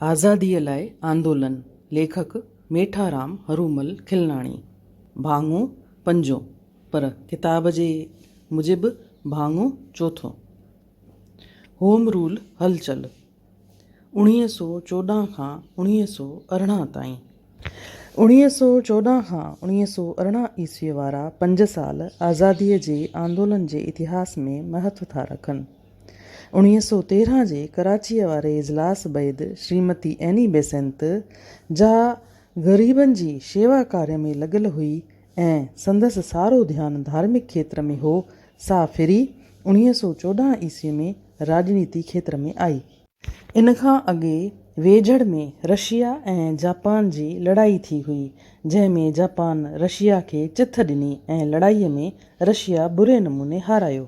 آزاديء لاء آندولن، ليکڪ، ميٺارام هرومل کلناڻي، ڀاڱو پنجو، پر ڪتاب جي موجب ڀاڱو چوٿو، هوم رول هلچل، اوڻيهه سؤ چوڏهن کان اوڻيهه سؤ ارڙهن تائين. اوڻيهه سؤ چوڏهن کان اوڻيهه سؤ ارڙهن عيسويء وارا پنج سال آزاديء جي آندولن جي اتهاس ۾ مهتو ٿا رکن. اڻويهه سؤ تيرهن جي ڪراچيء واري اجلاس بعيد شريمتي ايني بيسنت، جا غريبن جي شيوا ڪاري ۾ لڳل هئي ۽ سندس سارو ڌيان ڌارمڪ کيتر ۾ هو، سا ڦري اڻويهه سؤ چوڏهن عيسوي ۾ راڄنيتي کيتر ۾ آئي. ان کان اڳي ويجهڙ ۾ رشيا ۽ جاپان جي لڙائي ٿي هئي، جنهن ۾ جاپان رشيا کي چٿ ڏني ۽ لڙائيء ۾ رشيا بري نموني هارايو.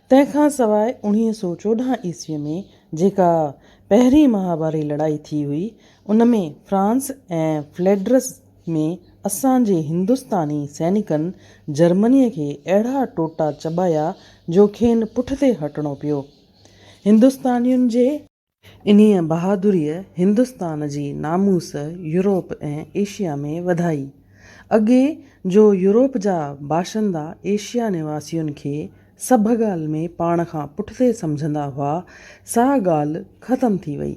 تنهن کان سواء اڻويهه سؤ چوڏهن عيسويء ۾ جيڪا پهرين مهاڀاري لڙائي ٿي هئي، ان ۾ فرانس ۽ فليڊرس ۾ اسان جي هندستاني سينيڪن جرمنيء کي اهڙا ٽوٽا چٻايا جو کين پٺتي هٽڻو پيو. هندستانين جي انهيء بهادريء هندستان جي ناموس يورپ ۽ ايشيا ۾ وڌائي. اڳي جو يورپ جا باشندا ايشيا نواسين کي سڀ ڳالهه ۾ پاڻ کان پٺتي سمجهندا هئا، سا ڳالهه ختم ٿي وئي.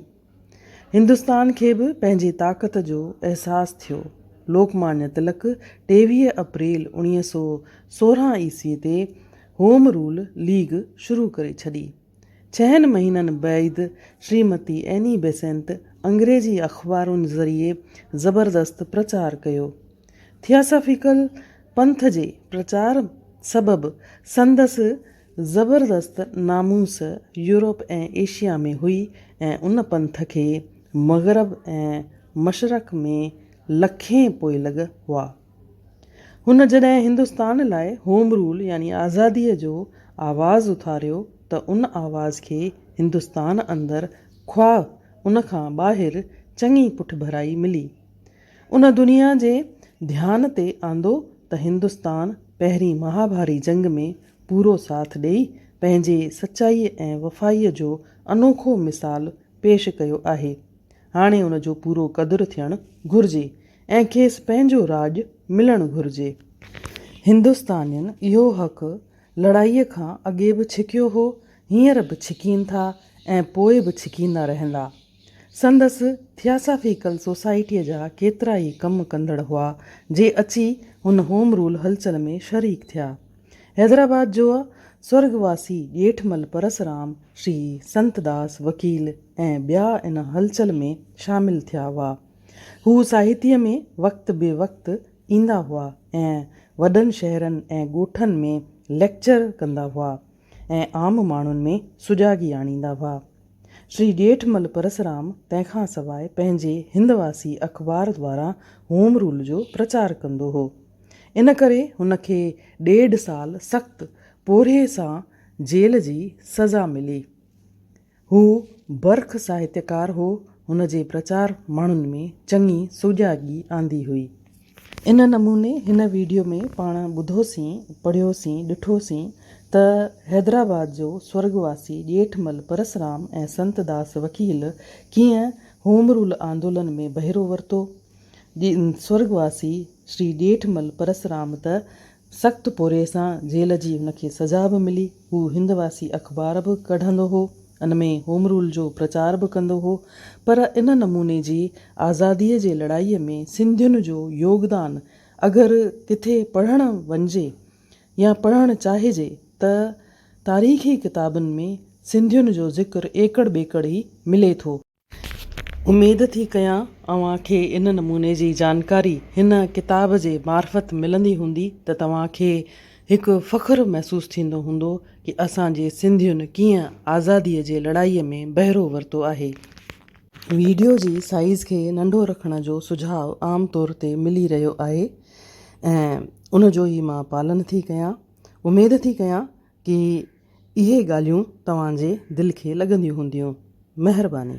هندستان کي به پنهنجي طاقت جو احساس ٿيو. لوڪ مانيا تلڪ ٽيويهه اپريل اوڻيهه سؤ سورهن عيسوي تي هوم رول ليگ شروع ڪري ڇڏي. ڇهن مهينن بعيد شريمتي ايني بيسنت انگريزي اخبارن ذريعي زبردست پرچار ڪيو. ٿياسافيڪل پنٿ جي پرچار سبب سندس زبردست ناموس يورپ ۽ ايشيا ۾ هئي ۽ ان پنٿ کي مغرب ۽ مشرق ۾ لکين پوئلڳ هئا. هن جڏهن هندستان لاء هوم رول يعني آزاديء جو آواز اٿاريو ته ان آواز کي هندستان اندر خواه ان کان ٻاهر چڱي پٺڀرائي ملي. ان دنيا جي ڌيان تي آندو ته هندستان پهرين مهاڀاري جنگ ۾ پورو ساٿ ڏئي پنهنجي سچائي ۽ وفائي جو انوکو مثال پيش ڪيو آهي هاڻي ان جو پورو قدر ٿيڻ گهرجي ۽ کيس پنهنجو راڄ ملڻ گهرجي هندستانين اهو حق لڙائي کان اڳي به ڇڪيو هو هينئر به ڇڪين ٿا ۽ پوء به ڇڪيندا رهندا. سندس ٿياسافيڪل سوسائٽيء جا ڪيترا ئي ڪم ڪندڙ هئا، جي اچي هن هوم رول هلچل ۾ شريڪ ٿيا. حيدرآباد جوء سورڳواسي ڄيٺمل پرسرام، شري سنت داس وڪيل ۽ ٻيا ان هلچل ۾ شامل ٿيا هئا. هو ساهتيء ۾ وقت بي وقت ايندا هئا ۽ وڏن شهرن ۽ ڳوٺن ۾ ليڪچر ڪندا هئا. ۽ عام ماڻهن ۾ سجاڳي آڻيندا هئا. شري ڄيٺمل پرسرام تنهن کان سواء پنهنجي هندواسي اخبار دواران هوم رول جو پرچار ڪندو هو. ان ڪري هن کي ڏيڍ سال سخت پورهيي سان جيل جي سزا ملي. هو برک ساهتيڪار هو، هن جي پرچار ماڻهن ۾ چڱي سوڄاڳي آندي هئي. ان نموني هن ويڊيو ۾ پاڻ ٻڌوسين، پڙهيوسين، ڏٺوسين ته حيدرآباد جو سورڳ واسي ڄيٺمل پرسرام ۽ سنت داس وڪيل ڪيئن هوم رول آندولن ۾ بهرو ورتو. سورڳ واسي شري ڄيٺمل پرسرام ته سخت پورهيي سان جيل جي هن کي سزا به ملي. هو هند واسي اخبار به ڪڍندو هو. ان ۾ هوم رول جو پرچار به ڪندو هو. پر ان نموني جي آزاديء جي لڙائيء ۾ سنڌين جو يوگدان اگر ڪٿي پڙهڻ وڃجي يا پڙهڻ چاهجي ته تاريخي ڪتابن ۾ سنڌين جو ذڪر ايڪڙ ٻيڪڙ ئي ملي ٿو. اميد ٿي ڪيان اوهان کي ان نموني جي جانڪاري هن ڪتاب جي معرفت ملندي هوندي ته توهان کي هڪ فخر محسوس ٿيندو هوندو ڪي اسان جي سنڌين ڪيئن آزادي جي لڙائي ۾ بهرو ورتو آهي. ويڊيو جي سائيز کي ننڍو رکڻ جو سجهاء عام طور تي ملي رهيو آهي ۽ ان جو ئي مان پالن ٿي ڪيان اميد ٿي ڪيان ڪي. اهي ڳالهيون توهان جي دل کي لڳنديون هونديون. مهرباني.